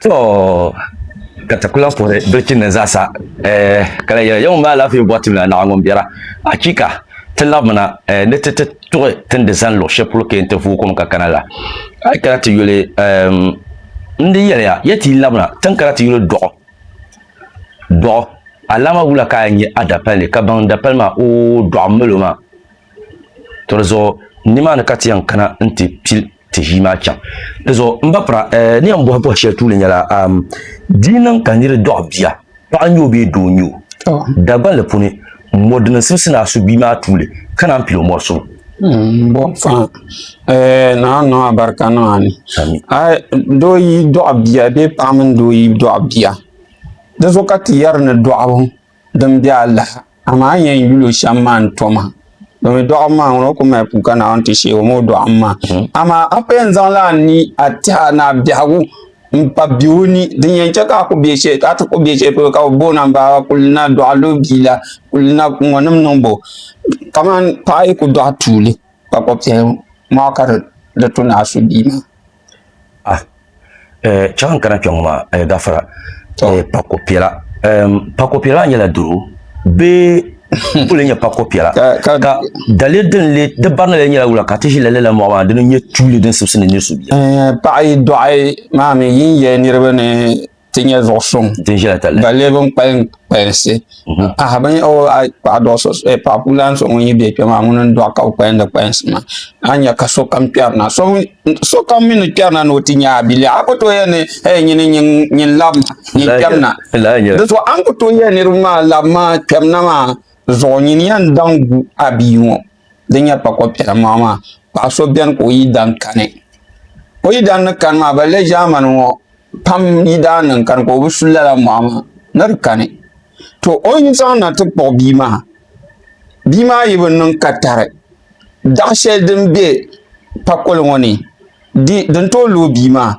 To ka ti kula kuhiri bilichinni zaasa, ɛɛh, ka lahi yɛli, Ya ŋun be alaafee bɔri tim la, Naɣa ŋun biɛra! Achiika! Ti labimina ɛɛh ni ti ti tuɣi ti ni di zani luɣ shɛli polo kee nti vooi kom ka kana la. A yi kana ti yuli, ɛɛm, n di yɛli ya, ya ti yi labina ti ni kana ti yuli dɔɣi dɔɣi alaama wula ka a nya a dapalli ka baŋ dapali maa? Oo, dɔɣi m-mali o maa. To di zuɣu nimaani ka ti yɛn kana nti pili. ti ʒii maa chaŋ. Di zuɣu m ba pira eh, ni yɛn bɔhi bɔhi shɛli tuuli nyɛla am, di yi niŋ ka niri dɔɣi bia, paɣa n-nyɛ o bee doo n-nyɛ o, oh. Dagbanli puuni, mɔri din simsi ni a su bia maa tuuli, ka naan pili o mɔri suŋ. Mm, bon fãa eh, naa niŋ a barika niŋ a ni doo yi dɔɣi bia bee paɣa mini doo yi dɔɣi bia di zuɣu ka ti yɛri ni dɔɣibu din be alaha amaa n yɛn yuli o shɛm maa n tom ha domi dɔɣim maa ŋuna o ku mali puka Naawuni ti sheeg o ma o dɔɣim maa hmm. amaa a ku yɛn zaŋla a ni a tɛha ni a biɛhigu n pa be o ni din yɛn chɛ ka a ku be shɛli ka a ti ku be shɛli polo ka bi booni a baaba kulina dɔɣilo biila kulina ŋɔnim niŋ bo kamani paɣa yi ku dɔɣi tuuli kpakpa piɛli maa ka di tu ni a su bia maa ah eh chaŋ n kana kpɛ ŋɔ maa eh gafara eh pako piɛla ehm pako piɛla nyɛla doro bee n kuli nyɛ pako piɛla ka dali din le di barina le nyɛla wula ka ti ʒi lali la mɔɣu maa dini n nyɛ tuuli din sibisi ni nirisu biɛla eh paɣa yi dɔɣi maa mi yi ni yɛli niriba ni ti nyɛ zuɣu suŋ ba lee bin kpalim kpalinsi mhm. aha bin o a paɣa dɔɣi so eh, paɣa ku lan so ŋun yi bɛ kpɛ maa ŋun n dɔɣi ka o kpalinda kpalinsi maa a nyɛ ka sokam kpɛri na sokam mi ni kpɛri na ni o ti nyɛ a bili a ku tooi yɛ ni eh, nyini nyin lab ma nyin kpɛm na di zuɣu a ni ku tooi yɛ niriba maa lab maa kpɛm na maa zuɣu nyin yɛn daŋ gu a bia ŋɔ di nyɛ pa ko kpɛri maa maa paɣa so bɛni ka o yi dan kani o yi dan ni kani maa ba le ʒaamani ŋɔ pam yi daa niŋ kani ka o bi su lala mɔɣu maa ni di kani to o yi zaŋ na ti kpuɣi bia maa bia maa yi bi niŋ ka tari daɣ shɛli din bɛ pakoli ŋɔ ni di din tooi looi bia maa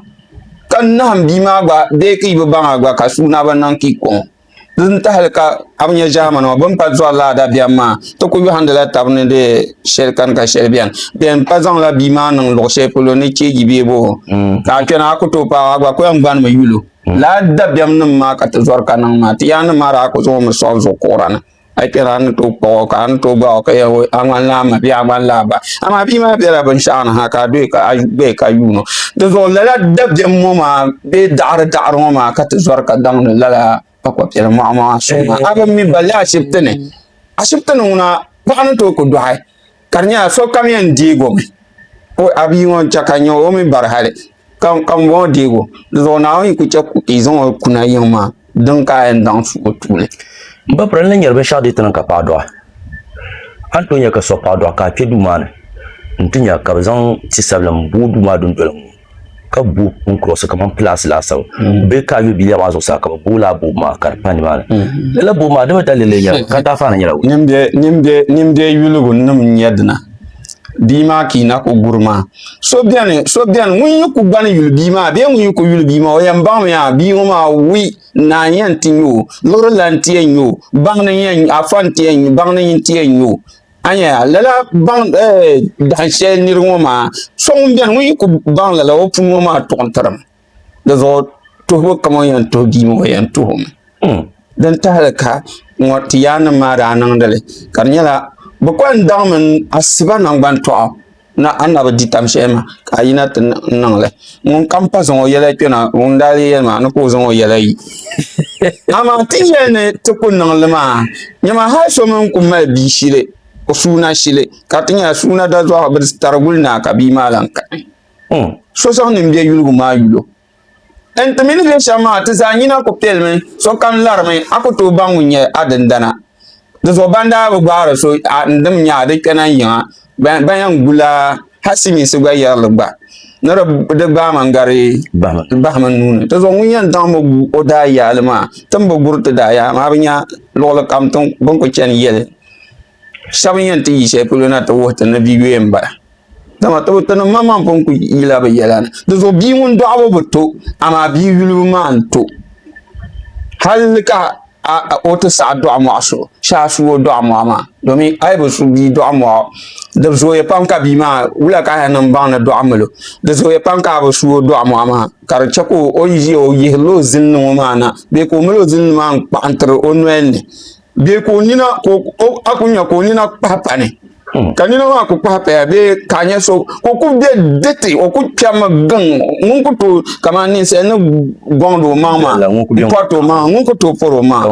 ka nahim bia maa gba bee ka yi bi baŋ a gba ka sua na bi niŋ ka i kɔŋ o Di ni tahali ka a bi nyɛ ʒɛmani ŋɔ bini pa zɔri laa dabiɛm maa ti ku yɔhindila tabi ni di shɛli kani ka shɛli bɛni bɛn pa zaŋla bia maa niŋ luɣu shɛli polo ni cheeji bee boo mm. ka a kpɛna a ku tooi paai a gba ku yɛn gbanimi yuli mm. laa dabiɛm nim maa ka ti zɔri ka niŋ maa ti yaa ni maa daa ku zaŋ mi sɔɣi zuɣu kuɣura ni a yi kpɛra a ni tooi kpuɣi o ka a ni tooi bahi o ka yɛli o a ŋmanila a ma bee a ŋmanila a ba amaa bia maa biɛla binshaɣu ni ha ka a doya ka a gbaya ka yuun o dinzuɣu lala dabiɛm ŋɔ maa bee daɣari daɣari ŋɔ maa ka ti zɔri ka daŋdi lala kpakpa piɛli mɔɣu maa suŋ maa a bi mi balli ashibiti ni ashibiti ni ŋuna paɣa ni tooi ku dɔɣi ka di nyɛla sokam yɛn deegi o mi o a bia ŋɔ n-chɛ ka nyɛ o mi bari hali ka m-bɔŋɔ deegi o di zuɣu Naawuni yi ku chɛ ka yi zaŋ o kuna yiŋ maa din ka a yɛn daŋ su o tuuli. M ba pira n ni nyari binshɛɣu deei ti niŋ ka paɣa dɔɣi a ni tooi nya ka so paɣa dɔɣi ka a kpe duu maa ni n-ti nya ka bɛ zaŋ ti sabilim booi duu maa dundoli ŋɔ. ka bo n kurɔsi kamani pilaasi laasabu mm. bee ka yo biliya maa zuɣusaa ka bi booi laa boobu maa ka di pa nimaani mm. lala boobu maa dama dalili nyɛla mm. ka taafana nyɛla nimbɛ yuligu nim n nyɛ dina bia maa ka i na ku guri maa so biɛni so biɛni ŋun yi ku gbani yuli bia maa bee ŋun yi ku yuli bia maa o yɛn baŋmi yaa bia ŋo maa wi naa n yɛn ti nyɛ o lurila n ti yɛn nyɛ o baŋ ni yɛn afa n ti yɛn baŋ ni n ti yɛn nyɛ o Anya, lala baŋ dahin shɛli niri ŋɔ maa, so ŋun beni ŋun yi ku baŋ lala o pun ŋɔ maa tuɣi n-tirim. Di zuɣu tuhibu kam o ni yɛn tuhi bia maa o yɛn tuhi o mi. Hmm. Din tahili ka ŋɔ ti yaannim maa daa niŋdi li ka di nyɛla bɛ kuli daŋmi asiba naŋgban tɔɣu. na a na bi di tam shɛli maa ka a yina ti niŋli ŋun kam pa zaŋ o yɛla kpɛna ŋun daa lee yɛli maa ni ka o zaŋ o yɛla yi amaa ti yɛli ni ti ku niŋli maa nyɛma hali so mini ku mali bia shili o suuna shili ka ti nyɛla suuna dazɔɣu bi tariguli naa ka bia maa lahi kani hmm. so zaŋ nimbɛ yuligu maa yulo N ti mini bɛ shɛm maa, ti zaa nyina ku piɛlimi, sokam larimi, a ku tooi baŋ ŋun nyɛ a dindana. Di zuɣu ban daa bi gbaari so a ni dim nya a di kpɛna yiŋa, ban yɛn gu la hal silimiinsi gba yɛrili gba ni di gbaai ma n-gari bahim n nuu ni. Di zuɣu ŋun yɛn daŋ mi gu o daayaali maa, ti ni bi guri ti daayaali maa, a bi nya luɣilikam bɛ ni ku chani yɛli. shɛba ni yɛn ti yi shɛli polo na ti wuhi ti ni bia yɔɔ n bala dama ti ni maŋmaŋ pun ku yila bi yɛla ni di zuɣu bia ŋun dɔɣibu bi to amaa bia yulibu maa n to hali ka o ti saɣi dɔɣi mɔɣu so shɛba su o dɔɣi mɔɣu maa domi a yi bi su bia dɔɣi mɔɣu di zooya pam ka bia maa wula ka hali niŋ baŋ ni dɔɣi n mili o di zooya pam ka a bi su o dɔɣi mɔɣu maa ka di chɛ ka o yi ʒiya o yihiri la o zilini ŋɔ maa na bee ka o mali o zilini maa n kpaɣintiri o noli ni. bee ka o nina a ku nya ka o nina kpahi pani hmm. ka nina maa ku kpahi paya bee ka nya so ka o ku bɛ diti o ku kpɛmi giŋ ŋun ku tooi kamani ninsal ni gɔŋdi o maŋ maa pɔriti o maŋ ŋun ku tooi pɔri o maŋ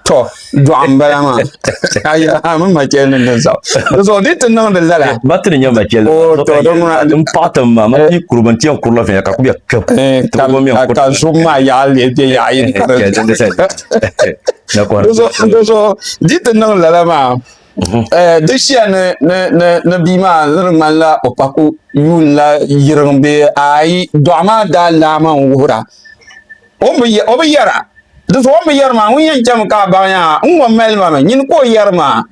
tɔ dɔɣu n bala maa mi machɛli ni din saɣi di zuɣu di ti niŋdi lala batiri nyɛ machɛli n paɣi tim maa ma ti kuri bin tiɛn kurila viɛnyɛ ka ku bɛ kpɛbu ka zuɣu maa yaɣali bɛ yaɣa yini so di ti niŋ lala maa mhm. eh, di shia ni bia maa ni di ŋmanila o paku yuun la yiriŋ bee ayi dɔɣ maa daa laama n wuhira o bi yɛra di so o bi yɛri maa ŋun yɛn chɛmi ka a baŋ yaa n ŋɔ mali ma mi nyini ka o yɛri maa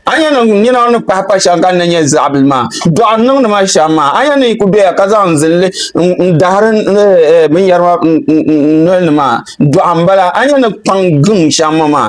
a nya ni nina ni pahi pa shɛŋa ka ni nyɛ zaɣibili maa dɔɣi n niŋdi ma shɛm maa a nya ni yi ku doya ka zaŋ zinli n dahiri binyɛri maa noli ni maa dɔɣi n bala a nya ni kpaŋ giŋ shɛm ŋɔ maa